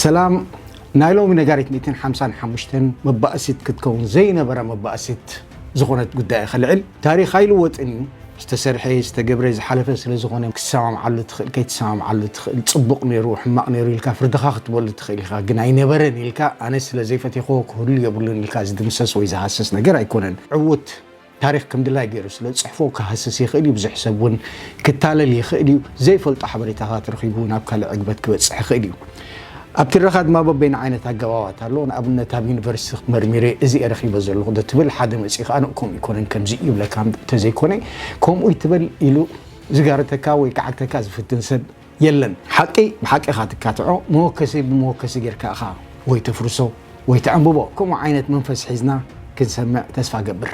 ሰላም ናይ ሎሚ ነጋሪት 155 መባእሲት ክትከውን ዘይነበረ መባእሲት ዝኾነት ጉዳይ ከልዕል ታሪክ ኣይልወጥን እዩ ዝተሰርሐ ዝተገብረ ዝሓለፈ ስለ ዝኾነ ክትሰማምዓሉ ትኽእል ከይትሰማምዓሉ ትኽእል ፅቡቕ ነይሩ ሕማቕ ነይሩ ኢልካ ፍርድኻ ክትበሉ ትኽእል ኢኻ ግን ኣይነበረን ኢልካ ኣነ ስለ ዘይፈቴኽዎ ክህሉ የብሉን ኢልካ ዝድምሰስ ወይ ዝሃሰስ ነገር ኣይኮነን ዕውት ታሪኽ ከም ድላይ ገይሩ ስለ ዝጽሕፎ ክሃስስ ይኽእል እዩ፣ ብዙሕ ሰብ እውን ክታለል ይኽእል እዩ፣ ዘይፈልጦ ሓበሬታታት ረኺቡ ናብ ካልእ ዕግበት ክበጽሕ ይኽእል እዩ። ኣብ ትረኻ ድማ በበይኑ ዓይነት ኣገባባት ኣሎ፣ ንኣብነት ኣብ ዩኒቨርሲቲ መርሚረ እዚ እየ ረኺበ ዘለኹ ዶ ትብል፣ ሓደ መጺኡ ከኣ ን ከምኡ ኣይኮነን ከምዚ እዩ ይብለካ እንተዘይኮነ ከምኡ ኣይትበል ኢሉ ዝጋርተካ ወይ ክዓግተካ ዝፍትን ሰብ የለን ሓቂ ብሓቂ ኢኻ ትካትዖ መወከሲ ብመወከሲ ጌርካ ኢኻ ወይ ተፍርሶ ወይ ተዕንብቦ ከምኡ ዓይነት መንፈስ ሒዝና ክንሰምዕ ተስፋ እገብር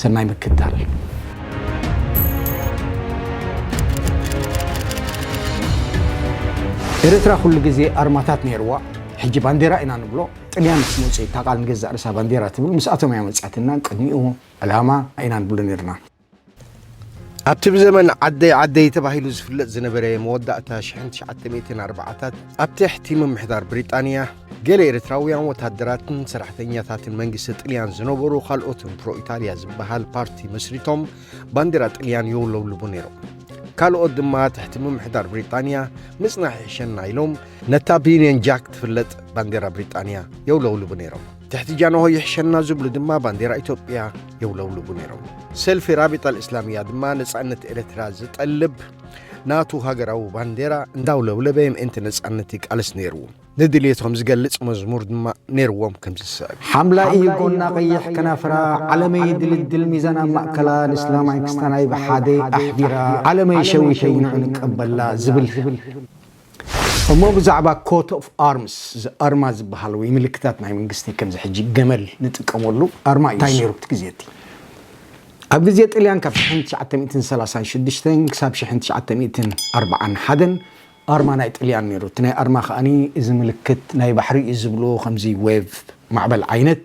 ሰናይ ምክትታል። ኤረትራ ኩሉ ግዜ ኣርማታት ኔርዋ ሕጂ ባንዴራ ኢና ንብሎ ጥልያን ምስ መጹ እታ ቃል ንገዛእ ርእሳ ባንዴራ ትብል ምስኣቶም እያ መጺኣትና ቅድሚኡ ዕላማ ኢና ንብሎ ኔርና። ኣብቲ ብዘመን ዓደይ ዓደይ ተባሂሉ ዝፍለጥ ዝነበረ መወዳእታ 1940ታት ኣብ ትሕቲ ምምሕዳር ብሪጣንያ ገለ ኤርትራውያን ወታደራትን ሰራሕተኛታትን መንግስቲ ጥልያን ዝነበሩ ካልኦት ፕሮ ኢጣልያ ዝበሃል ፓርቲ መስሪቶም ባንዴራ ጥልያን የውለብልቡ ነይሮም ካልኦት ድማ ትሕቲ ምምሕዳር ብሪጣንያ ምጽናሕ ይሕሸና ኢሎም ነታ ብዩንየን ጃክ ትፍለጥ ባንዴራ ብሪጣንያ የውለውልቡ ነይሮም ትሕቲ ጃንሆ ይሕሸና ዝብሉ ድማ ባንዴራ ኢትዮጵያ የውለብልቡ ነይሮም። ሰልፊ ራቢጣ ልእስላምያ ድማ ነፃነት ኤርትራ ዝጠልብ ናቱ ሃገራዊ ባንዴራ እንዳውለብለበ ምእንቲ ነፃነት ይቃለስ ነይሩ። ንድልየቶም ዝገልጽ መዝሙር ድማ ነይርዎም ከም ዝስዕብ ሓምላይ እዩ ጎና ቀይሕ ከናፍራ ዓለመይ ድልድል ሚዛና ማእከላ ንእስላማይ ክስታናይ ብሓደ ኣሕዲራ ዓለመይ ሸዊተይ ንዑ ንቀበላ ዝብል እሞ ብዛዕባ ኮት ኦፍ ኣርምስ ኣርማ ዝበሃል ወይ ምልክታት ናይ መንግስቲ ከምዚ ሕጂ ገመል ንጥቀመሉ ኣርማ እዩ እንታይ ነይሩ እቲ ግዜ እቲ ኣብ ግዜ ጥልያን ካብ ሽሕን ትሽዓተ ሚእትን ሰላሳን ሽዱሽተን ክሳብ ሽሕን ትሽዓተ ሚእትን ኣርብዓን ሓደን ኣርማ ናይ ጥልያን ነይሩ እቲ ናይ ኣርማ ከኣኒ እዚ ምልክት ናይ ባሕሪ እዩ ዝብልዎ ከምዚ ዌቭ ማዕበል ዓይነት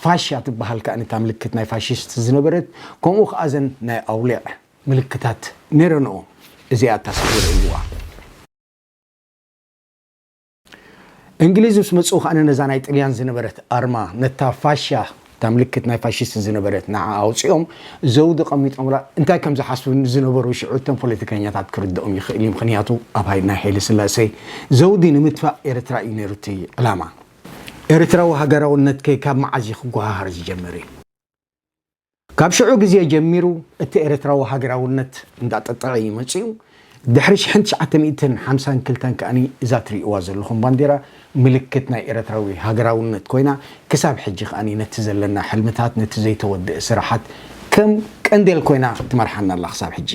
ፋሻ ትበሃል ከኣኒ እታ ምልክት ናይ ፋሽስት ዝነበረት ከምኡ ከኣ እዘን ናይ ኣውሊዕ ምልክታት ሜሮኖ እዚኣ እታ ስእሊ ርእይዋ። እንግሊዝ ምስ መጽኡ ከኣ ነዛ ናይ ጥልያን ዝነበረት ኣርማ ነታ ፋሻ እታ ምልክት ናይ ፋሽስት ዝነበረት ንዓ ኣውጺኦም ዘውዲ ቀሚጦምላ እንታይ ከም ዝሓስቡ ዝነበሩ ሽዑ እቶም ፖለቲከኛታት ክርድኦም ይኽእል እዩ ምክንያቱ ኣብ ናይ ሓይለ ስላሴ ዘውዲ ንምትፋእ ኤርትራ እዩ ነይሩ እቲ ዕላማ ኤርትራዊ ሃገራውነትከ ካብ መዓዝ እዩ ክጓሃሃር ዝጀመረ ካብ ሽዑ ግዜ ጀሚሩ እቲ ኤርትራዊ ሃገራውነት እንዳጠጠዐ ኢዩ መጺኡ። ድሕሪ ሽሕን ትሽዓተ ሚእትን ሓምሳን ክልተን ከኣ እዛ ትርእይዋ ዘለኹም ባንዴራ ምልክት ናይ ኤርትራዊ ሃገራውነት ኮይና ክሳብ ሕጂ ከኣ ነቲ ዘለና ሕልምታት ነቲ ዘይተወድእ ስራሓት ከም ቀንዴል ኮይና ትመርሓና ኣላ ክሳብ ሕጂ።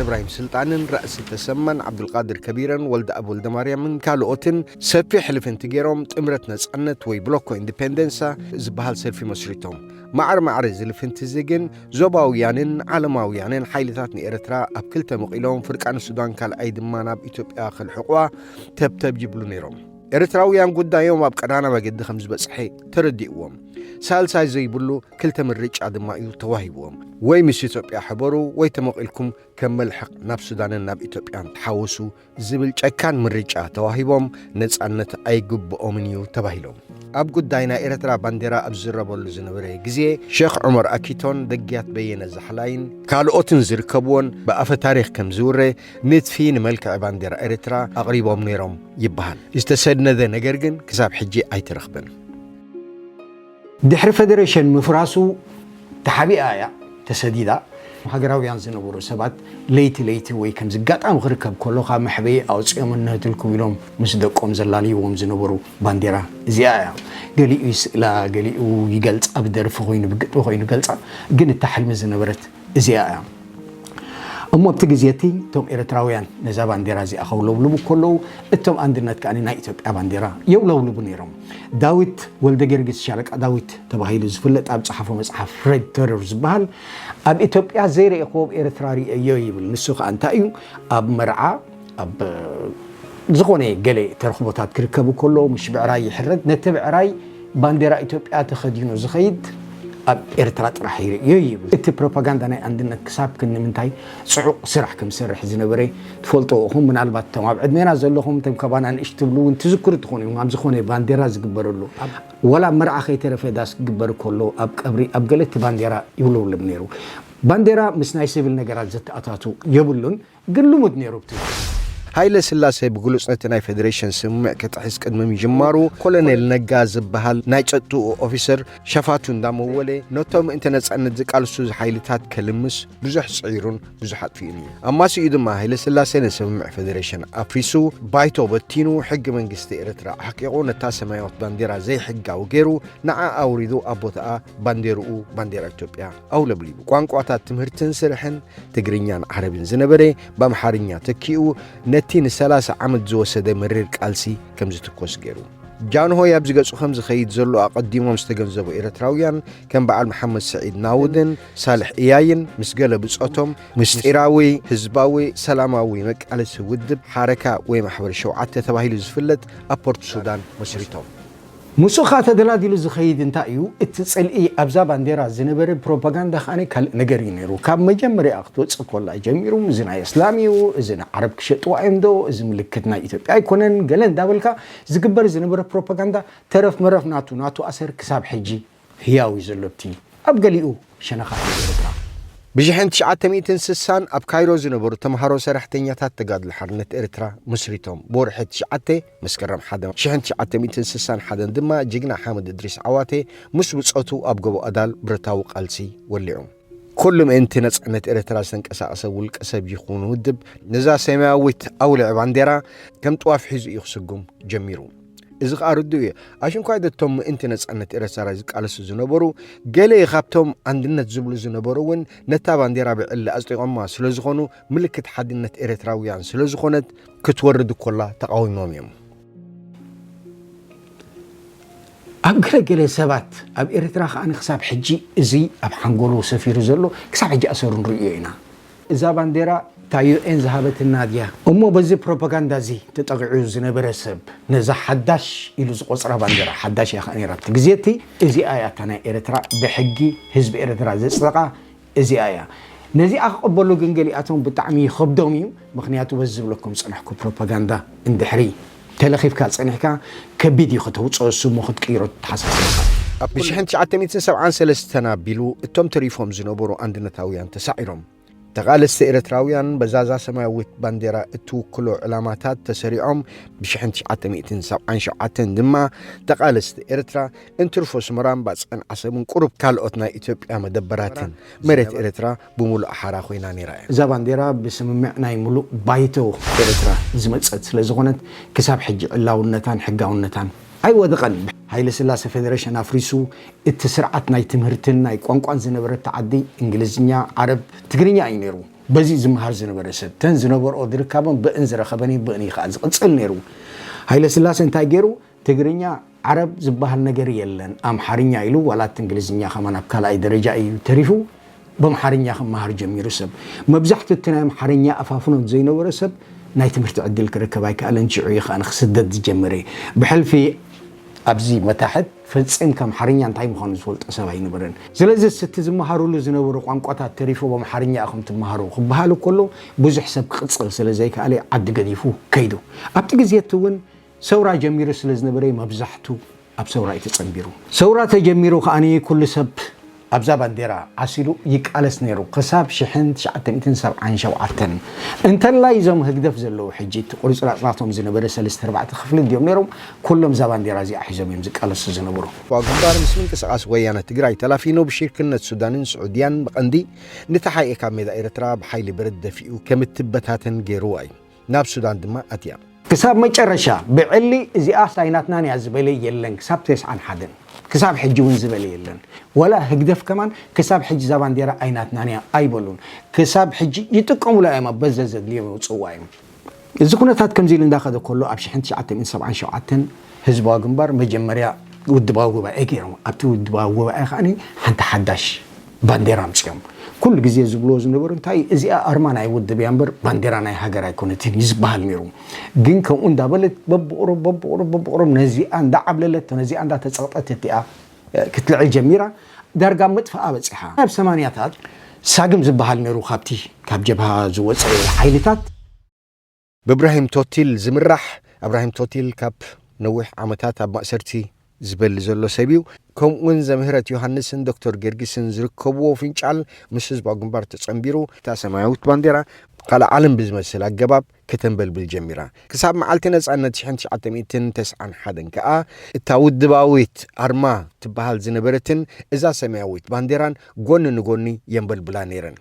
እብራሂም ስልጣንን ራእሲ ተሰማን ዓብዱልቃድር ከቢረን ወልደኣብ ወልደማርያምን ካልኦትን ሰፊሕ ልፍንቲ ገይሮም ጥምረት ነጻነት ወይ ብሎኮ ኢንዲፔንደንሳ ዝበሃል ሰልፊ መስሪቶም። ማዕረ ማዕረ እዚ ልፍንቲ እዚ ግን ዞባውያንን ዓለማውያንን ሓይልታት ንኤርትራ ኣብ ክልተ መቒሎም ፍርቃ ንሱዳን ካልኣይ ድማ ናብ ኢትዮጵያ ከልሕቑዋ ተብተብ ይብሉ ነይሮም። ኤርትራውያን ጉዳዮም ኣብ ቀዳና መገዲ ከም ዝበጽሐ ተረዲእዎም። ሳልሳይ ዘይብሉ ክልተ ምርጫ ድማ እዩ ተዋሂብዎም። ወይ ምስ ኢትዮጵያ ሕበሩ ወይ ተመቒልኩም ከም መልሕቕ ናብ ሱዳንን ናብ ኢትዮጵያን ተሓወሱ ዝብል ጨካን ምርጫ ተዋሂቦም ነጻነት ኣይግብኦምን እዩ ተባሂሎም። ኣብ ጉዳይ ናይ ኤርትራ ባንዴራ ኣብ ዝዝረበሉ ዝነበረ ግዜ ሸኽ ዑመር ኣኪቶን ደግያት በየነ ዛሕላይን ካልኦትን ዝርከብዎን ብኣፈ ታሪኽ ከም ዝውረ ንድፊ ንመልክዒ ባንዴራ ኤርትራ ኣቕሪቦም ነይሮም ይበሃል። ዝተሰነደ ነገር ግን ክሳብ ሕጂ ኣይተረኽበን። ድሕሪ ፈደረሽን ምፍራሱ ተሓቢኣ እያ ተሰዲዳ። ሃገራውያን ዝነበሩ ሰባት ለይቲ ለይቲ ወይ ከምዚ ኣጋጣሚ ክርከብ ከሎ ካብ መሕበኢ ኣውጺኦም እንሀትልኩም ኢሎም ምስ ደቆም ዘላልይዎም ዝነበሩ ባንዴራ እዚኣ እያ። ገሊኡ ይስእላ ገሊኡ ይገልጻ ብደርፊ ኮይኑ ብግጥሚ ኮይኑ ይገልጻ ግን እታ ሕልሚ ዝነበረት እዚኣ እያ እሞ ኣብቲ ግዜ እቲ እቶም ኤርትራውያን ነዛ ባንዴራ እዚኣ ከውለብልቡ ከለዉ እቶም ኣንድነት ከኣ ናይ ኢትዮጵያ ባንዴራ የውለብልቡ ነይሮም። ዳዊት ወልደገርጊስ ሻለቃ ዳዊት ተባሂሉ ዝፍለጥ ኣብ ዝጸሓፎ መጽሓፍ Red Terror ዝበሃል ኣብ ኢትዮጵያ ዘይረኤክዎ ኣብ ኤርትራ ርእየዮ ይብል። ንሱ ከኣ እንታይ እዩ ኣብ መርዓ፣ ኣብ ዝኾነ ገለ ተረኽቦታት ክርከቡ ከለዉ ምሽ ብዕራይ ይሕረድ ነቲ ብዕራይ ባንዴራ ኢትዮጵያ ተኸዲኑ ዝኸይድ ኣብ ኤርትራ ጥራሕ ይርእዮ ይብል እቲ ፕሮፓጋንዳ ናይ ኣንድነት ክሳብ ክንምንታይ ጽዑቕ ስራሕ ከም ዝሰርሕ ዝነበረ ትፈልጥዎ ኢኹም ምናልባት እቶም ኣብ ዕድሜና ዘለኹም እቶም ከባና ንእሽ ትብሉ እውን ትዝክሩ ትኾኑ እዮም ኣብ ዝኾነ ባንዴራ ዝግበረሉ ወላ መርዓ ከይተረፈ ዳስ ክግበር ከሎ ኣብ ቀብሪ ኣብ ገለ እቲ ባንዴራ ይውለብለብ ነይሩ ባንዴራ ምስ ናይ ስብል ነገራት ዘተኣታቱ የብሉን ግን ልሙድ ነይሩ ብቲ ወቕቲ። ሃይለ ስላሰ ብግሉጽ ነቲ ናይ ፈደረሽን ስምምዕ ክጥሕስ ቅድሚ ምጅማሩ፣ ኮሎኔል ነጋ ዝበሃል ናይ ጸጥትኡ ኦፊሰር ሸፋቱ እንዳመወለ ነቶም ምእንቲ ነጻነት ዝቃልሱ ሓይልታት ከልምስ ብዙሕ ጽዒሩን ብዙሕ ኣጥፊኡን እዩ። ኣማሲኡ ድማ ሃይለ ስላሰ ንስምምዕ ፈደረሽን ኣፍሪሱ፣ ባይቶ በቲኑ፣ ሕጊ መንግስቲ ኤርትራ ኣሕቂቑ፣ ነታ ሰማያዊት ባንዴራ ዘይሕጋዊ ገይሩ፣ ንዓ ኣውሪዱ ኣብ ቦታኣ ባንዴርኡ ባንዴራ ኢትዮጵያ ኣውለብሊቡ ቋንቋታት ትምህርትን ስርሕን ትግርኛን ዓረብን ዝነበረ ብኣምሓርኛ ተኪኡ ነቲ ንሰላሳ ዓመት ዝወሰደ መሪር ቃልሲ ከም ዝትኮስ ገይሩ። ጃንሆይ ኣብ ዝገጹ ከም ዝኸይድ ዘሎ ኣቐዲሞም ዝተገንዘቡ ኤርትራውያን ከም በዓል መሓመድ ስዒድ ናውድን ሳልሕ እያይን ምስ ገለ ብጾቶም ምስጢራዊ ህዝባዊ ሰላማዊ መቃለሲ ውድብ ሓረካ ወይ ማሕበር ሸውዓተ ተባሂሉ ዝፍለጥ ኣብ ፖርት ሱዳን መስሪቶም። ምስኡኻ ተደላዲሉ ዝኸይድ እንታይ እዩ እቲ ጽልኢ ኣብዛ ባንዴራ ዝነበረ ፕሮፓጋንዳ ከኣ ካልእ ነገር እዩ ነይሩ ካብ መጀመርያ ክትወጽእ ኮላ ጀሚሩ እዚ ናይ እስላም እዩ እዚ ንዓረብ ክሸጥዋ እዮም ዶ እዚ ምልክት ናይ ኢትዮጵያ ኣይኮነን ገለ እንዳበልካ ዝግበር ዝነበረ ፕሮፓጋንዳ ተረፍ መረፍ ናቱ ናቱ ኣሰር ክሳብ ሕጂ ህያው እዩ ዘሎ እቲ ኣብ ገሊኡ ሸነኻት ናይ ኤርትራ። ብሽሕን ትሽዓተ ሚእትን ስሳን ኣብ ካይሮ ዝነበሩ ተምሃሮ ሰራሕተኛታት ተጋድሎ ሓርነት ኤርትራ መስሪቶም። ብወርሒ ትሽዓተ፣ መስከረም ሓደ፣ ሽሕን ትሽዓተ ሚእትን ስሳን ሓደን ድማ ጅግና ሓምድ እድሪስ ዓዋተ ምስ ብጾቱ ኣብ ጎቦ ኣዳል ብረታዊ ቃልሲ ወሊዑ። ኩሉ ምእንቲ ነጻነት ኤርትራ ዝተንቀሳቐሰ ውልቀ ሰብ ይኹን ውድብ ነዛ ሰማያዊት ኣውልዕ ባንዴራ ከም ጥዋፍ ሒዙ እዩ ክስጉም ጀሚሩ። እዚ ኸኣ ርዱእ እዩ። ኣሽንኳይ ደቶም ምእንቲ ነጻነት ኤርትራ ዝቃለሱ ዝነበሩ ገለ ካብቶም ኣንድነት ዝብሉ ዝነበሩ እውን ነታ ባንዴራ ብዕሊ ኣጽዲቖማ ስለ ዝኾኑ ምልክት ሓድነት ኤርትራውያን ስለ ዝኾነት ክትወርድ ኮላ ተቓዊሞም እዮም። ኣብ ገለገለ ሰባት ኣብ ኤርትራ ከኣ ክሳብ ሕጂ እዚ ኣብ ሓንጎሉ ሰፊሩ ዘሎ ክሳብ ሕጂ ኣሰሩ ንርእዮ ኢና። እዛ ባንዴራ እታ ዩኤን ዝሃበትና ድያ? እሞ በዚ ፕሮፓጋንዳ እዚ ተጠቒዑ ዝነበረ ሰብ ነዛ ሓዳሽ ኢሉ ዝቖጽራ ባንዴራ፣ ሓዳሽ እያ ከኣ ነይራ ኣብቲ ግዜ እቲ፣ እዚኣ እያ እታ ናይ ኤርትራ ብሕጊ ህዝቢ ኤርትራ ዘጽደቓ፣ እዚኣ እያ ነዚኣ ክቅበሉ ግን ገሊኣቶም ብጣዕሚ ይከብዶም እዩ ምክንያቱ በዚ ዝብለኩም ዝጸናሕኩ ፕሮፓጋንዳ እንድሕሪ ተለኪፍካ ጸኒሕካ ከቢድ እዩ ከተውጽኦ እሱ እሞ ክትቅይሮ ተሓሳስባካ ብ ሽሕን ትሽዓተ ሚእትን ሰብዓን ሰለስተን ኣቢሉ እቶም ተሪፎም ዝነበሩ ኣንድነታውያን ተሳዒሮም ተቃለስቲ ኤረትራውያን በዛዛ ሰማያዊት ባንዴራ እትውክሎ ዕላማታት ተሰሪዖም ብ ሽሕን ትሽዓተ ሚእትን ሰብዓን ሸውዓተን ድማ ተቃለስቲ ኤረትራ እንትርፎ ስመራን ባጽዕን ዓሰብን ቁሩብ ካልኦት ናይ ኢትዮጵያ መደበራትን መሬት ኤርትራ ብምሉኣ ሓራ ኮይና ነይራ እያ። እዛ ባንዴራ ብስምምዕ ናይ ምሉእ ባይቶ ኤርትራ ዝመጸት ስለ ዝኾነት ክሳብ ሕጂ ዕላውነታን ሕጋውነታን ኣይወደቐን። ሃይለስላሰ ፈደረሽን ኣፍሪሱ እቲ ስርዓት ናይ ትምህርትን ናይ ቋንቋን ዝነበረታ ዓዲ እንግሊዝኛ፣ ዓረብ፣ ትግርኛ እዩ ነይሩ። በዚ ዝመሃር ዝነበረ ሰብ ተን ዝነበርኦ ድርካበን ብእን ዝረኸበን እዩ ብእን እዩ ከኣ ዝቕጽል ነይሩ። ሃይለስላሰ እንታይ ገይሩ? ትግርኛ ዓረብ ዝባሃል ነገር የለን ኣምሓርኛ ኢሉ ዋላ እቲ እንግሊዝኛ ከማን ኣብ ካልኣይ ደረጃ እዩ ተሪፉ በምሓርኛ ክማሃር ጀሚሩ ሰብ መብዛሕቱ እቲ ናይ ኣምሓርኛ ኣፋፍኖት ዘይነበሮ ሰብ ናይ ትምህርቲ ዕድል ክረከብ ኣይከኣለን ሽዑ እዩ ከኣ ክስደድ ዝጀመረ ብሕልፊ ኣብዚ መታሕት ፈጺምካ ኣምሓርኛ እንታይ ምዃኑ ዝፈልጦ ሰብ ኣይነበረን ስለዚስ እቲ ዝመሃርሉ ዝነበሩ ቋንቋታት ተሪፉ በምሓርኛ ኢኹም ትማሃሩ ክባሃል ከሎ ብዙሕ ሰብ ክቅጽል ስለ ዘይከኣለ ዓዲ ገዲፉ ከይዱ ኣብቲ ግዜ እቲ ውን ሰውራ ጀሚሩ ስለ ዝነበረ'ዩ መብዛሕቱ ኣብ ሰውራ'ዩ ተጸንቢሩ። ሰውራ ተጀሚሩ ከኣ ኩሉ ሰብ ኣብዛ ባንዴራ ዓሲሉ ይቃለስ ነይሩ ክሳብ ሽሕን ትሽዓተ ሚእትን ሰብዓን ሸውዓተን። እንተላይ እዞም ህግደፍ ዘለዉ ሕጂ እቲ ቁርጽራጽ ናቶም ዝነበረ ሰለስተ ኣርባዕተ ክፍሊ እንድዮም ነይሮም ኩሎም እዛ ባንዴራ እዚኣ ሒዞም እዮም ዝቃለሱ ዝነበሩ። እኳ ግንባር ምስ ምንቅስቓስ ወያነ ትግራይ ተላፊኑ ብሽርክነት ሱዳንን ስዑድያን ብቐንዲ ንተሓኤ ካብ ሜዳ ኤርትራ ብሓይሊ ብረት ደፊኡ ከም እትበታተን ገይሩዋ እዩ። ናብ ሱዳን ድማ ኣትያ። ክሳብ መጨረሻ ብዕሊ እዚኣስ ኣይናትናን እያ ዝበለ የለን ክሳብ ተስዓን ሓደን ክሳብ ሕጂ ውን ዝበለ የለን ወላ ህግደፍ ከማን ክሳብ ሕጂ እዛ ባንዴራ ኣይናትናን እያ ኣይበሉን ክሳብ ሕጂ ይጥቀሙላ እዮም ኣብ በዘዘድልዮም የውጽዋ እዮም እዚ ኩነታት ከምዚ ኢሉ እንዳኸደ ከሎ ኣብ ሽሕን ትሽዓተ ሚእትን ሰብዓን ሸውዓተን ህዝባዊ ግንባር መጀመርያ ውድባዊ ጉባኤ ገይሮም ኣብቲ ውድባዊ ጉባኤ ከኣ ሓንቲ ሓዳሽ ባንዴራ ኣምጺኦም ኩሉ ግዜ ዝብልዎ ዝነበሩ እንታይ እዩ እዚኣ ኣርማ ናይ ውድብ እያ እምበር ባንዴራ ናይ ሃገር ኣይኮነትን እዩ ዝበሃል ነይሩ ግን ከምኡ እንዳበለት በብቑሩብ በብቑሩብ በብቑሩብ ነዚኣ እንዳዓብለለት ነዚኣ እንዳተጸቕጠት እቲኣ ክትልዕል ጀሚራ ዳርጋ ኣብ ምጥፍኣ በጺሓ ኣብ ሰማንያታት ሳግም ዝበሃል ነይሩ ካብቲ ካብ ጀብሃ ዝወጸ ሓይልታት ብእብራሂም ቶቲል ዝምራሕ፣ እብራሂም ቶቲል ካብ ነዊሕ ዓመታት ኣብ ማእሰርቲ ዝበሊ ዘሎ ሰብ እዩ። ከምኡ'ውን ዘምህረት ዮሃንስን ዶክተር ጌርጊስን ዝርከብዎ ፍንጫል ምስ ህዝባዊ ግንባር ተጸንቢሩ፣ እታ ሰማያዊት ባንዴራ ካልእ ዓለም ብዝመስል ኣገባብ ከተንበልብል ጀሚራ፣ ክሳብ መዓልቲ ነጻነት ሽሕን ትሽዓተ ሚእትን ተስዓን ሓደን ከኣ እታ ውድባዊት ኣርማ ትበሃል ዝነበረትን እዛ ሰማያዊት ባንዴራን ጎኒ ንጎኒ የንበልብላ ነይረን።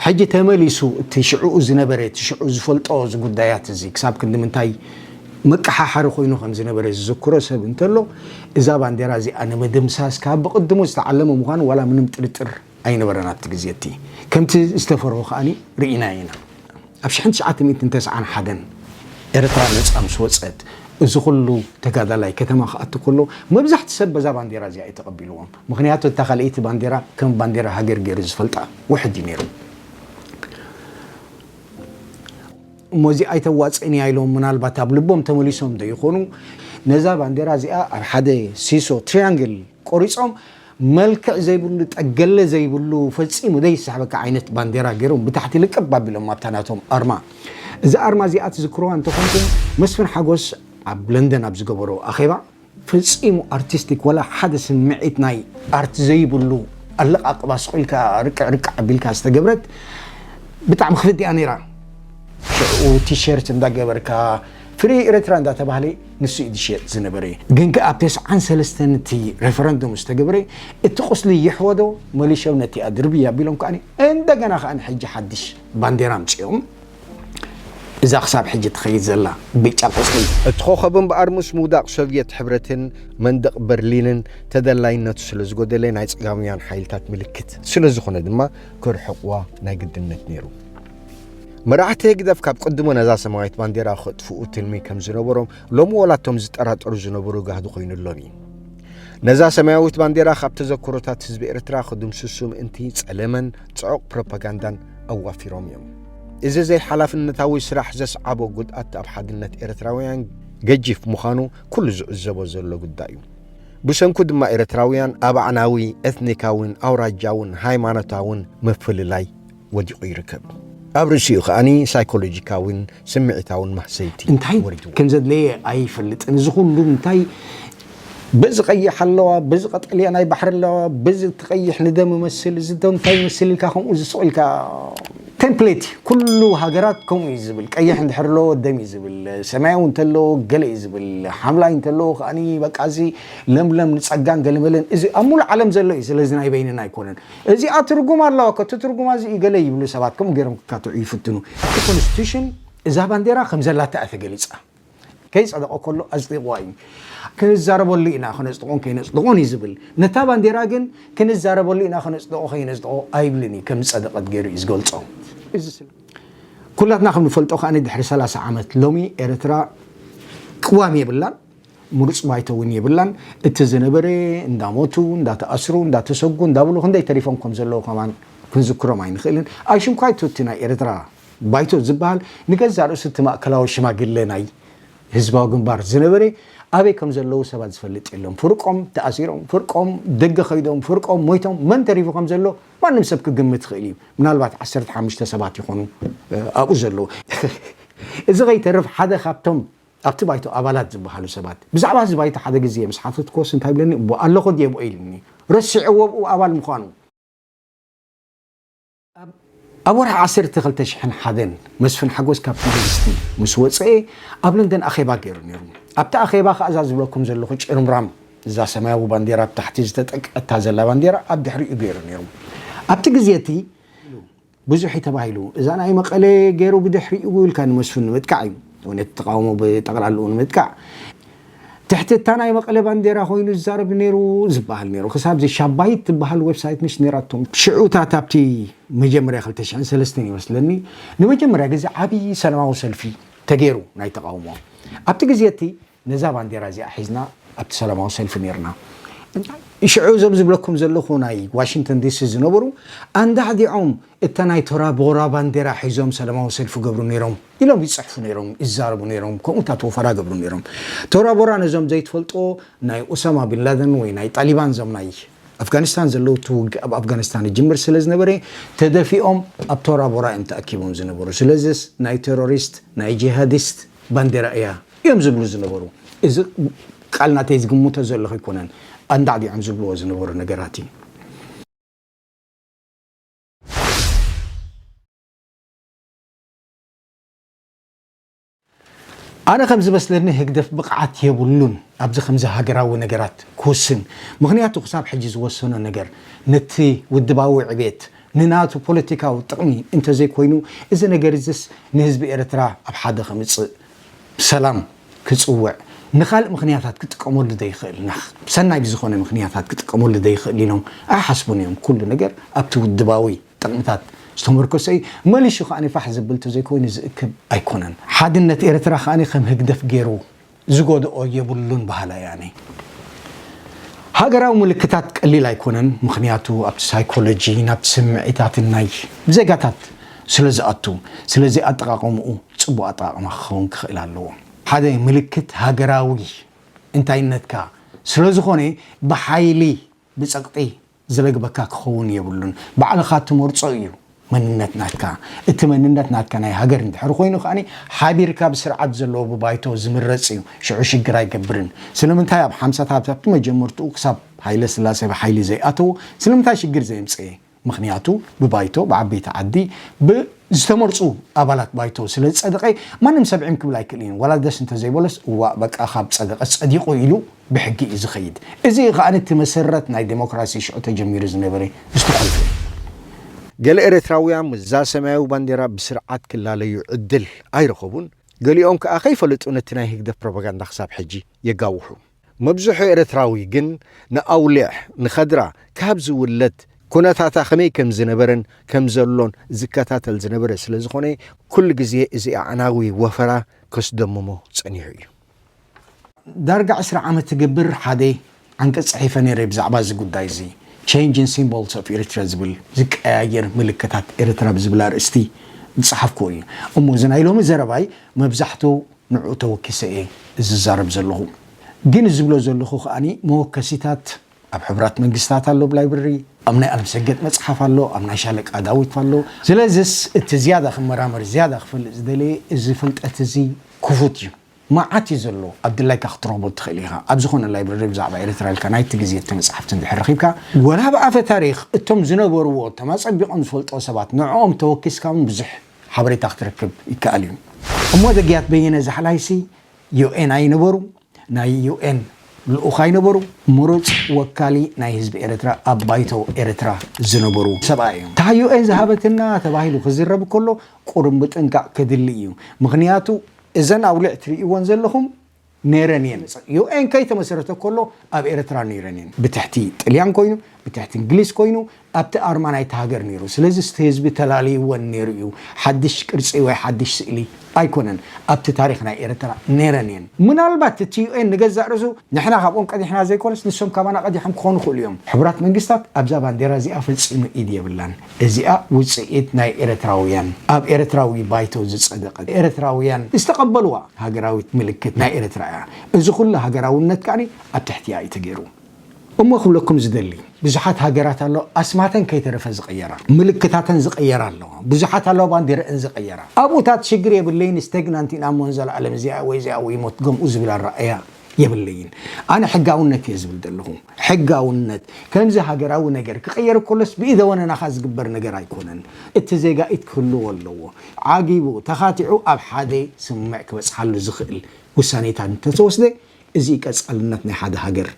ሕጂ ተመሊሱ እቲ ሽዕኡ ዝነበረ እቲ ሽዑ ዝፈልጦ እዚ ጉዳያት እዚ ክሳብ ክንዲ ምንታይ መቀሓሓሪ ኮይኑ ከም ዝነበረ ዝዝክሮ ሰብ እንተሎ እዛ ባንዴራ እዚኣ ንምድምሳስ ካብ ብቕድሙ ዝተዓለመ ምዃኑ ዋላ ምንም ጥርጥር ኣይነበረን ኣብቲ ግዜ እቲ ከምቲ ዝተፈርሆ ከኣ ርኢናዮ ኢና። ኣብ ሽሕን ትሽዓተ ሚእትን ተስዓን ሓደን ኤርትራ ነጻ ምስ ወጸት እዚ ኩሉ ተጋዳላይ ከተማ ክኣቱ ከሎ መብዛሕቱ ሰብ በዛ ባንዴራ እዚኣ እዩ ተቐቢልዎም ምኽንያቱ እታ ካልኣይቲ ባንዴራ ከም ባንዴራ ሃገር ጌሩ ዝፈልጣ ውሕጅ እዩ ኔሩ እሞ እዚኣ ኣይተዋጽእን እያ ኢሎም ምናልባት ኣብ ልቦም ተመሊሶም ዶ ይኾኑ ነዛ ባንዴራ እዚኣ ኣብ ሓደ ሲሶ ትሪያንግል ቆሪጾም መልክዕ ዘይብሉ ጠገለ ዘይብሉ ፈጺሙ ዘይስሕበካ ዓይነት ባንዴራ ጌሮም ብታሕቲ ልቅብ ኣቢሎም ኣብታ ናቶም ኣርማ እዛ ኣርማ እዚኣ ትዝክርዋ እንተኾንኩም መስፍን ሓጎስ ኣብ ለንደን ኣብ ዝገበሮ ኣኼባ ፈጺሙ ኣርቲስቲክ ወላ ሓደ ስምዒት ናይ ኣርት ዘይብሉ ኣለቓቕባ ስቕ ኢልካ ርቅዕ ርቅዕ ኣቢልካ ዝተገብረት ብጣዕሚ ክፍእቲ እያ ነይራ። ሽዕኡ ቲሸርት እንዳገበርካ ፍሪ ኤረትራ እንዳተባህለ ንሱ እዩ ዝሽየጥ ዝነበረ ግን ከኣ ኣብ ተስዓን ሰለስተን እቲ ረፈረንዱም ምስ ተገብረ እቲ ቁስሊ ይሕወዶ መሊሾም ነቲኣ ድርብይ ኣቢሎም ከኣ እንደገና ከኣ ሕጂ ሓድሽ ባንዴራ ኣምጺኦም እዛ ክሳብ ሕጂ ትኸይድ ዘላ ብጫ ቁስሊ። እቲ ኮኸብ እምበኣር ምስ ምውዳቕ ሶቭየት ሕብረትን መንደቕ በርሊንን ተደላይነቱ ስለ ዝጎደለ ናይ ጸጋማውያን ሓይልታት ምልክት ስለ ዝኾነ ድማ ክርሕቕዋ ናይ ግድነት ነይሩ። መራሕቲ ህግደፍ ካብ ቅድሞ ነዛ ሰማያዊት ባንዴራ ክጥፍኡ ትልሚ ከም ዝነበሮም ሎሚ ወላቶም ዝጠራጠሩ ዝነበሩ ጋህዲ ኮይኑሎም እዩ ነዛ ሰማያዊት ባንዴራ ካብ ተዘክሮታት ህዝቢ ኤርትራ ክድምስሱ ምእንቲ ጸለመን ጽዑቕ ፕሮፓጋንዳን ኣዋፊሮም እዮም እዚ ዘይሓላፍነታዊ ስራሕ ዘስዓቦ ጉድኣት ኣብ ሓድነት ኤርትራውያን ገጂፍ ምዃኑ ኩሉ ዝዕዘቦ ዘሎ ጉዳይ እዩ ብሰንኩ ድማ ኤርትራውያን ኣብ ኣዕናዊ ኤትኒካውን ኣውራጃውን ሃይማኖታውን ምፍልላይ ወዲቑ ይርከብ። ኣብ ርእሲኡ ከኣ ሳይኮሎጂካዊን ስምዒታውን ማህሰይቲ እንታይ ወሪድዎ። ከም ዘድለየ ኣይፈልጥን። እዚ ኩሉ እንታይ በዚ ቀይሕ ኣለዋ፣ በዚ ቀጠልያ ናይ ባሕሪ ኣለዋ፣ በዚ እቲ ቀይሕ ንደም እመስል፣ እዚ ዶ እንታይ ይመስል ኢልካ ከምኡ እዚ ሱቕ ኢልካ ቴምፕሌት እዩ። ኩሉ ሃገራት ከምኡ እዩ ዝብል። ቀይሕ እንድሕር ኣለዎ ደም እዩ ዝብል፣ ሰማያዊ እንተለዎ ገለ እዩ ዝብል፣ ሓምላይ እንተለዎ ከኣ በቃ እዚ ለምለም ንጸጋን ገለመለን እዚ ኣብ ምሉእ ዓለም ዘሎ እዩ። ስለዚ ናይ በይንና ኣይኮነን። እዚኣ ትርጉም ኣለዋ ከ እቲ ትርጉማ እዚ እዩ ገለ ይብሉ ሰባት ከምኡ ገይሮም ክካትዑ ይፍትኑ። እቲ ኮንስቲቱሽን እዛ ባንዴራ ከም ዘላታ እያ ተገሊጻ። ከይጸደቐ ከሎ ኣጽዲቕዋ እዩ። ክንዛረበሉ ኢና ከነጽድቖን ከይነጽድቖን እዩ ዝብል። ነታ ባንዴራ ግን ክንዛረበሉ ኢና ከነጽድቖ ከይነጽድቖ ኣይብልን እዩ ከም ዝጸደቐት ገይሩ እዩ ዝገልጾ። እዚ ስለ ኩላትና ከም ንፈልጦ ከኣ ድሕሪ ሰላሳ ዓመት ሎሚ ኤርትራ ቅዋም የብላን። ምሩፅ ባይቶ እውን የብላን። እቲ ዝነበረ እንዳሞቱ፣ እንዳተኣስሩ፣ እንዳተሰጉ፣ እንዳበሉ ክንደይ ተሪፎም ከምዘለዉ ከማን ክንዝክሮም ኣይንኽእልን። ኣይሽምኳ ኣይቶ እቲ ናይ ኤርትራ ባይቶ ዝበሃል ንገዛእ ርእሱ እቲ ማእከላዊ ሽማግለ ናይ ህዝባዊ ግንባር ዝነበረ ኣበይ ከምዘለዉ ሰባት ዝፈልጥ የሎን። ፍርቆም ተኣሲሮም፣ ፍርቆም ደገ ከይዶም፣ ፍርቆም ሞይቶም፣ መን ተሪፉ ከምዘሎ ማንም ሰብ ክግምት ይኽእል እዩ። ምናልባት ዓሰርተ ሓሙሽተ ሰባት ይኾኑ ኣብኡ ዘለዉ። እዚ ከይተርፍ ሓደ ካብቶም ኣብቲ ባይቶ ኣባላት ዝበሃሉ ሰባት፣ ብዛዕባ እዚ ባይቶ ሓደ ግዜ ምስ ሓተትኩዎስ እንታይ ይብለኒ፣ እቦ ኣለኹ ድየ ብኦ ኢሉኒ። ረሲዐዎ ኣብኡ ኣባል ምዃኑ። ኣብ ወርሒ ዓሰርተ ክልተ ሽሕን ሓደን፣ መስፍን ሓጎስ ካብቲ ዩኒቨርሲቲ ምስ ወጸኤ፣ ኣብ ለንደን ኣኼባ ገይሩ ነይሩ። ኣብቲ ኣኼባ ከኣ እዛ ዝብለኩም ዘለኹ ጭርምራም፣ እዛ ሰማያዊ ባንዴራ ኣብ ታሕቲ ዝተጠቅዐታ ዘላ ባንዴራ ኣብ ድሕሪኡ ገይሩ ነይሩ። ኣብቲ ግዜ እቲ። ብዙሕ እዩ ተባሂሉ እዛ ናይ መቀለ ገሩ ብድሕሪኡ ኢልካ ንመስፍን ንምጥቃዕ እዩ ነቲ ተቃውሞ ብጠቅላልኡ ንምጥቃዕ ትሕቲ እታ ናይ መቀለ ባንዴራ ኮይኑ ዝዛረብ ነይሩ ዝበሃል ነይሩ ክሳብ እዚ ሻባይት ትበሃል ዌብሳይት ምስ ነይራቶም ሽዑ እታ ኣብቲ መጀመርያ ክልተ ሽሕን ሰለስተን ይመስለኒ ንመጀመርያ ግዜ ዓብዪ ሰላማዊ ሰልፊ ተገይሩ ናይ ተቃውሞ ኣብቲ ግዜ እቲ ነዛ ባንዴራ እዚኣ ሒዝና ኣብቲ ሰላማዊ ሰልፊ ኔርና። እንታይ ሽዑ እዞም ዝብለኩም ዘለኹ ናይ ዋሽንግተን ዲሲ ዝነበሩ ኣንዳዕዲዖም እታ ናይ ቶራ ቦራ ባንዴራ ሒዞም ሰላማዊ ሰልፊ ይገብሩ ኔሮም ኢሎም ይጽሕፉ ኔሮም ይዛረቡ ኔሮም ከምኡታት ወፈራ ይገብሩ ኔሮም። ቶራ ቦራ ነዞም ዘይትፈልጥዎ ናይ ኡሳማ ቢን ላደን ወይ ናይ ጣሊባን እዞም ናይ ኣፍጋኒስታን ዘለዉ እቲ ውግእ ኣብ ኣፍጋኒስታን ይጅምር ስለ ዝነበረ ተደፊኦም ኣብ ቶራ ቦራ እዮም ተኣኪቦም ዝነበሩ ስለዝስ ናይ ቴሮሪስት ናይ ጂሃዲስት ባንዴራ እያ እዮም ዝብሉ ዝነበሩ። እዚ ቃል ናተይ ዝግምቶ ዘለኹ ኣይኮነን፣ ኣንዳዕዲዖም ዝብልዎ ዝነበሩ ነገራት እዩ። ኣነ ከም ዝመስለኒ ህግደፍ ብቕዓት የብሉን ኣብዚ ከምዚ ሃገራዊ ነገራት ክውስን። ምኽንያቱ ክሳብ ሕጂ ዝወሰኖ ነገር ነቲ ውድባዊ ዕቤት ንናቱ ፖለቲካዊ ጥቕሚ እንተዘይኮይኑ እዚ ነገር እዚስ ንህዝቢ ኤርትራ ኣብ ሓደ ከምጽእ ሰላም ክጽውዕ ንኻልእ ምኽንያታት ክጥቀመሉ ዘይኽእል ናህ ሰናይ ብዝኾነ ምኽንያታት ክጥቀመሉ ዘይኽእል ኢሎም ኣይሓስቡን እዮም ኩሉ ነገር ኣብቲ ውድባዊ ጥቕምታት ዝተመርኮሰ እዩ መሊሹ ከኣ ፋሕ ዘብል ተዘይኮይኑ ዝእክብ ኣይኮነን ሓድነት ኤርትራ ከኣ ከም ህግደፍ ጌሩ ዝጎድኦ የብሉን በሃላይ እያ ኣነ ሃገራዊ ምልክታት ቀሊል ኣይኮነን ምኽንያቱ ኣብቲ ሳይኮሎጂ ናብቲ ስምዒታትን ናይ ዜጋታት ስለዝኣቱ ስለዚ ኣጠቓቕምኡ ጽቡቕ ኣጠቓቕማ ክኸውን ክኽእል ኣለዎ። ሓደ ምልክት ሃገራዊ እንታይነትካ ስለዝኾነ ብሓይሊ ብጸቕጢ ዝለግበካ ክኸውን የብሉን። ባዕልኻ ትመርጾ እዩ መንነት ናትካ። እቲ መንነት ናትካ ናይ ሃገር እንድሕር ኮይኑ ከኣ ሓቢርካ ብስርዓት ዘለዎ ብባይቶ ዝምረጽ እዩ። ሽዑ ሽግር ኣይገብርን። ስለምንታይ ኣብ ሓምሳታት ኣብቲ መጀመርትኡ ክሳብ ሃይለስላሴ ብሓይሊ ዘይኣተዎ ስለምንታይ ሽግር ዘየምጽኤ? ምኽንያቱ ብባይቶ፣ ብዓበይቲ ዓዲ፣ ብ ዝተመርጹ ኣባላት ባይቶ ስለ ዝጸደቐ ማንም ሰብ ዒም ክብል ኣይክእልን እዩ። ዋላ ደስ እንተዘይበሎስ እዋእ በቃ ካብ ጸደቐስ ጸዲቑ ኢሉ ብሕጊ እዩ ዝኸይድ። እዚ እዩ ከኣ እቲ መሰረት ናይ ደሞክራሲ ሽዑ ተጀሚሩ ዝነበረ ዝተኾልፈ እዩ። ገለ ኤርትራውያን ምስዛ ሰማያዊ ባንዴራ ብስርዓት ክላለዩ ዕድል ኣይረኸቡን። ገሊኦም ከኣ ከይፈለጡ ነቲ ናይ ህግደፍ ፕሮፓጋንዳ ክሳብ ሕጂ የጋውሑ። መብዝሑ ኤርትራዊ ግን ንኣውሊዕ ንከድራ ካብ ዝውለድ ኩነታታ ከመይ ከም ዝነበረን ከም ዘሎን ዝከታተል ዝነበረ ስለ ዝኾነ ኩሉ ግዜ እዚ ኣዕናዊ ወፈራ ከስደምሞ ጸኒሑ እዩ። ዳርጋ ዕስራ ዓመት ትገብር ሓደ ዓንቀጽ ጽሒፈ ነይረ ብዛዕባ እዚ ጉዳይ እዚ Change in Symbols of Eritrea ዝብል ዝቀያየር ምልክታት ኤርትራ ብዝብል ኣርእስቲ ዝጸሓፍክዎ እዩ። እሞ እዚ ናይ ሎሚ ዘረባይ መብዛሕቱ ንዕኡ ተወኪሰ እየ ዝዛረብ ዘለኹ። ግን ዝብሎ ዘለኹ ከኣ መወከሲታት ኣብ ሕቡራት መንግስታት ኣሎ ብላይብረሪ፣ ኣብ ናይ ኣለምሰገድ መጽሓፍ ኣሎ፣ ኣብ ናይ ሻለቃ ዳዊት ኣሎ። ስለዝስ እቲ ዝያዳ ክመራመር ዝያዳ ክፈልጥ ዝደለየ እዚ ፍልጠት እዚ ክፉት እዩ። መዓት እዩ ዘሎ ኣብ ድላይካ ክትረኽቦ እትኽእል ኢኻ። ኣብ ዝኾነ ላይብረሪ ብዛዕባ ኤርትራ ኢልካ ናይቲ ግዜ እተመጽሓፍቲ እንድሕር ረኺብካ፣ ወላ ብኣፈ ታሪኽ እቶም ዝነበርዎ እቶም ኣጸቢቖም ዝፈልጥዎ ሰባት ንዕኦም ተወኪስካ እውን ብዙሕ ሓበሬታ ክትረክብ ይከኣል እዩ። እሞ ደግያት በየነ ዛሕላይሲ UN ኣይነበሩ ናይ UN ልኡኽ ኣይነበሩ ምሩጽ ወካሊ ናይ ህዝቢ ኤረትራ ኣብ ባይቶ ኤረትራ ዝነበሩ ሰብኣይ እዮም እታ UN ዝሃበትና ተባሂሉ ክዝረብ ከሎ ቁሩብ ምጥንቃቅ ከድሊ እዩ ምኽንያቱ እዘን ኣውሊዕ ትርእይወን ዘለኹም ነይረን እየን UN ከይተመሰረተ ከሎ ኣብ ኤረትራ ነይረን እየን ብትሕቲ ጥልያን ኮይኑ ብትሕቲ እንግሊዝ ኮይኑ ኣብቲ ኣርማ ናይቲ ሃገር ነይሩ ስለዚ እቲ ህዝቢ ተላልይወን ነይሩ እዩ ሓድሽ ቅርጺ ወይ ሓድሽ ስእሊ ኣይኮነን ኣብቲ ታሪኽ ናይ ኤረትራ ነይረን እየን ምናልባት እቲ UN ንገዛእ ርእሱ ንሕና ካብኦም ቀዲሕና ዘይኮነስ ንሶም ካባና ቀዲሖም ክኾኑ ይኽእሉ እዮም ሕቡራት መንግስታት ኣብዛ ባንዴራ እዚኣ ፈጺሙ ኢድ የብላን እዚኣ ውጽኢት ናይ ኤረትራውያን ኣብ ኤረትራዊ ባይቶ ዝጸደቀት ኤረትራውያን ዝተቀበልዋ ሃገራዊት ምልክት ናይ ኤረትራ እያ እዚ ኩሉ ሃገራውነት ከኣ ኣብ ትሕቲኣ እዩ ተገይሩ እሞ ክብለኩም ዝደሊ ብዙሓት ሃገራት ኣለዋ ኣስማተን ከይተረፈ ዝቀየራ ምልክታተን ዝቀየራ ኣለዋ ብዙሓት ኣለዋ ባንዴረእን ዝቀየራ ኣብኡታት ሽግር የብለይን ስተግናንት ኢና እሞ ንዘላኣለም እዚኣ ወይ እዚኣ ወይ ሞት ገምኡ ዝብል ኣረኣእያ የብለይን ኣነ ሕጋውነት እየ ዝብል ዘለኹ ሕጋውነት ከምዚ ሃገራዊ ነገር ክቕየር ከሎስ ብኢደወነናኻ ዝግበር ነገር ኣይኮነን እቲ ዜጋ ኢድ ክህልዎ ኣለዎ ዓጊቡ ተኻቲዑ ኣብ ሓደ ስምምዕ ክበጽሓሉ ዝኽእል ውሳኔታት እንተተወስደ እዚ እዩ ቀጻልነት ናይ ሓደ ሃገር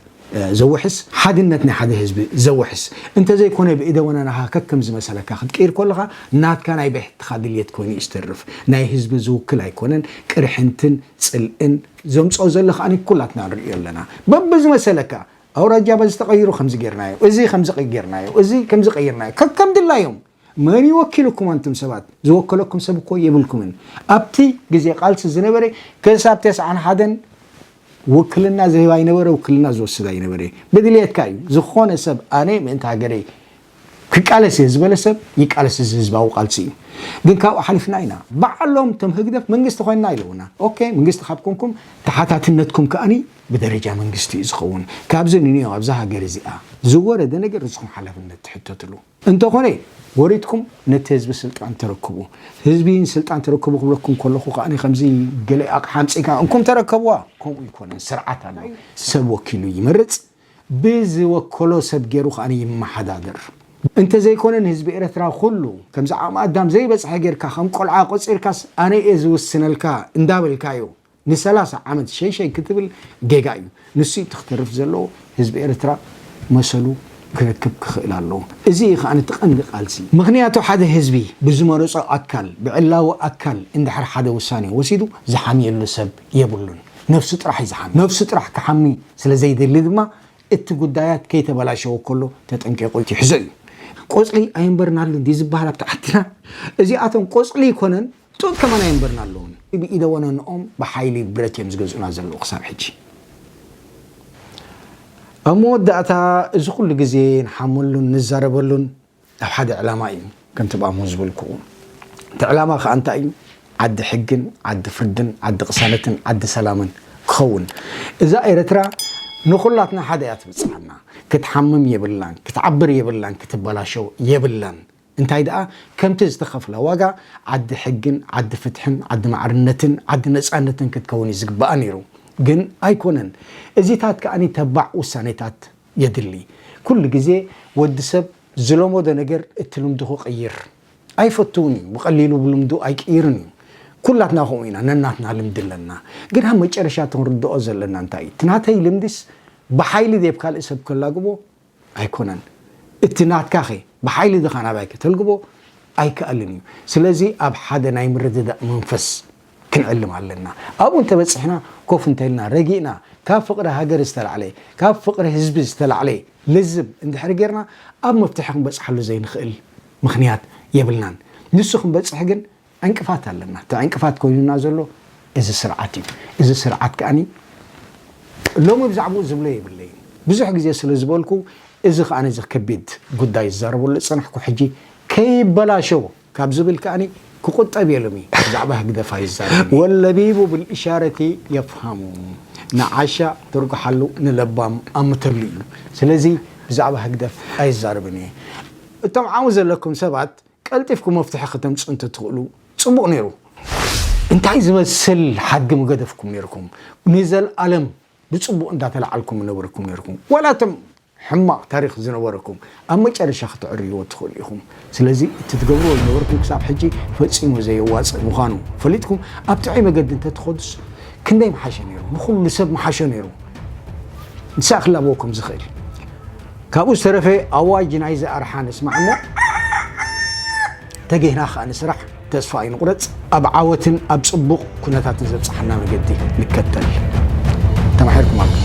ዘውሕስ ሓድነት ናይ ሓደ ህዝቢ ዘውሕስ እንተዘይኮነ ብኢደወነናኻ ከከም ዝመሰለካ ክትቅይር ከለኻ ናትካ ናይ ብሕትኻ ድልየት ኮይኑ እዩ ዝተርፍ ናይ ህዝቢ ዝውክል ኣይኮነን ቅርሕንትን ጽልእን ዘምጽኦ ዘሎ ከኣ ኩላትና ንርእዮ ኣለና በብዝመሰለካ ኣውራጃ በዚ ተቐይሩ ከምዚ ጌርናዮ እዚ ከምዚ ጌርናዮ እዚ ከምዚ ቀይርናዮ ከከም ድላዮም መን እዩ ወኪሉኩም ኣንቱም ሰባት ዝወከለኩም ሰብ እኮ የብልኩምን ኣብቲ ግዜ ቃልሲ ዝነበረ ክሳብ ተስዓን ሓደን ውክልና ዝህብ ኣይነበረ ውክልና ዝወስድ ኣይነበረ ብድልየትካ እዩ ዝኾነ ሰብ ኣነ ምእንቲ ሃገረይ ክቃለስ እየ ዝበለ ሰብ ይቃለስ እዚ ህዝባዊ ቃልሲ እዩ ግን ካብኡ ሓሊፍና ኢና ባዕሎም እቶም ህግደፍ መንግስቲ ኮይንና ኢለውና ኦኬ ምንግስቲ ካብ ኮንኩም ተሓታትነትኩም ከኣ ብደረጃ መንግስቲ እዩ ዝኸውን ካብዚ ንንዮ ኣብዛ ሃገር እዚኣ ዝወረደ ነገር ንስኹም ሓላፍነት ትሕተትሉ እንተኾነ ወሪድኩም ነቲ ህዝቢ ስልጣን ተረክቡ ህዝቢ ስልጣን ተረክቡ ክብለኩም ከለኹ ከኣ ከምዚ ገለ ኣቕሓ ኣምጺእካ እንኩም ተረከብዋ ከምኡ ይኮነን ስርዓት ኣሎ ሰብ ወኪሉ ይመርጽ ብዝወከሎ ሰብ ጌሩ ከኣ ይመሓዳደር እንተ ዘይኮነ ንህዝቢ ኤረትራ ኩሉ ከምዚ ዓቅሚ ኣዳም ዘይበጽሐ ጌርካ ከም ቆልዓ ቆጺርካስ ኣነ ኢየ ዝውስነልካ እንዳ በልካዮ ን ሰላሳ ዓመት ሸይ ሸይ ክትብል ጌጋ ኢዩ ንሱ ኢዩ እቲ ክተርፍ ዘለዎ ህዝቢ ኤረትራ መሰሉ ክረክብ ክክእል ኣለዎ እዚ ኢዩ ከኣ እቲ ቀንዲ ቃልሲ ምክንያቱ ሓደ ህዝቢ ብዝመረጾ ኣካል ብዕላዊ ኣካል እንድሕር ሓደ ውሳኔ ወሲዱ ዝሓምየሉ ሰብ የብሉን ነብሱ ጥራሕ እዩ ዝሓሚ። ነብሱ ጥራሕ ክሓሚ ስለ ዘይደሊ ድማ እቲ ጉዳያት ከይተበላሸወ ከሎ ተጠንቂቑ ይሕዞ እዩ። ቆጽሊ ኣየንበርናሉን ድዩ ዝበሃል ኣብቲ ዓድና? እዚኣቶም ቆጽሊ ኣይኮነን ጡጥ ከማን ኣየንበርናሉን። ብኢደ ወነንኦም ብሓይሊ ብረት እዮም ዝገዝኡና ዘለዉ ክሳብ ሕጂ። ኣብ መወዳእታ እዚ ኩሉ ግዜ ንሓመሉን ንዛረበሉን ናብ ሓደ ዕላማ እዩ ከንትብኣሞ ዝበልኩኡ እቲ ዕላማ ከኣ እንታይ እዩ ዓዲ ሕግን ዓዲ ፍርድን ዓዲ ቅሳነትን ዓዲ ሰላምን ክኸውን እዛ ኤረትራ ንኹላትና ሓደ እያ ትብጽሓና ክትሓምም የብላን ክትዓብር የብላን ክትበላሸው የብላን እንታይ ደኣ ከምቲ ዝተኸፍለ ዋጋ ዓዲ ሕግን ዓዲ ፍትሕን ዓዲ ማዕርነትን ዓዲ ነጻነትን ክትከውን እዩ ዝግብኣ ኔሩ ግን ኣይኮነን እዚታት ከኣ ተባዕ ውሳኔታት የድሊ ኩሉ ግዜ ወዲ ሰብ ዝለሞዶ ነገር እቲ ልምዱ ክቅይር ኣይፈትውን እዩ ብቀሊሉ ብልምዱ ኣይቅይርን እዩ ኩላትና ከምኡ ኢና ነናትና ልምዲ ኣለና ግን ኣብ መጨረሻ እቲ ክንርድኦ ዘለና እንታይ እዩ እቲ ናተይ ልምዲስ ብሓይሊ ዴብ ካልእ ሰብ ከላግቦ ኣይኮነን እቲ ናትካኸ ብሓይሊ ድኻ ናባይ ከተልግቦ ኣይክኣልን እዩ ስለዚ ኣብ ሓደ ናይ ምርድዳእ መንፈስ ክንዕልም ኣለና። ኣብኡ እንተበጺሕና ኮፍ እንተኢልና ረጊእና ካብ ፍቕሪ ሃገር ዝተላዕለ፣ ካብ ፍቕሪ ህዝቢ ዝተላዕለ ልዝብ እንድሕሪ ጌርና ኣብ መፍትሒ ክንበጽሓሉ ዘይንኽእል ምኽንያት የብልናን። ንሱ ክንበጽሕ ግን ዕንቅፋት ኣለና። እቲ ዕንቅፋት ኮይኑና ዘሎ እዚ ስርዓት እዩ። እዚ ስርዓት ከኣ ሎሚ ብዛዕብኡ ዝብሎ የብለይን። ብዙሕ ግዜ ስለ ዝበልኩ እዚ ከኣ እዚ ከቢድ ጉዳይ ዝዛረበሉ ዝጸናሕኩ ሕጂ ከይበላሾ ካብ ዝብል ከኣ ክቑጠብ እየ ሎሚ ብዛዕባ ህግደፍ ኣይዛረብን። ወለቢቡ ብልእሻረቲ የፍሃሙ ንዓሻ ትርጉሓሉ ንለባም ኣምተሉ እዩ ስለዚ ብዛዕባ ህግደፍ ኣይዛረብን እየ። እቶም ዓው ዘለኩም ሰባት ቀልጢፍኩም መፍትሒ ከተምጹ እንተትኽእሉ ጽቡቕ ኔሩ። እንታይ ዝመስል ሓድጊ ምገደፍኩም ኔርኩም ንዘልኣለም። ብጽቡቅ እንዳተላዓልኩም ነበርኩም ኔርኩም ዋላ እቶም ሕማቅ ታሪኽ ዝነበረኩም ኣብ መጨረሻ ክትዕርይዎ ትኽእሉ ኢኹም ስለዚ እቲ ትገብርዎ ዝነበርኩም ክሳብ ሕጂ ፈጺሙ ዘየዋጽእ ምዃኑ ፈሊጥኩም ኣብ ጥዑይ መገዲ እንተትኸዱስ ክንደይ ምሓሸ ኔሩ ንኹሉ ሰብ ምሓሾ ኔሩ ንሳ ክላበዎ ከም ዝኽእል ካብኡ ዝተረፈ ኣዋጅ ናይዚ ኣርሓ ንስማዕ እሞ ተጌህና ከኣ ንስራሕ ተስፋ ኣይንቑረፅ፣ ኣብ ዓወትን ኣብ ፅቡቕ ኩነታትን ዘብፅሓና መገዲ ንከተል። ተማሒርኩም ኣለኹም።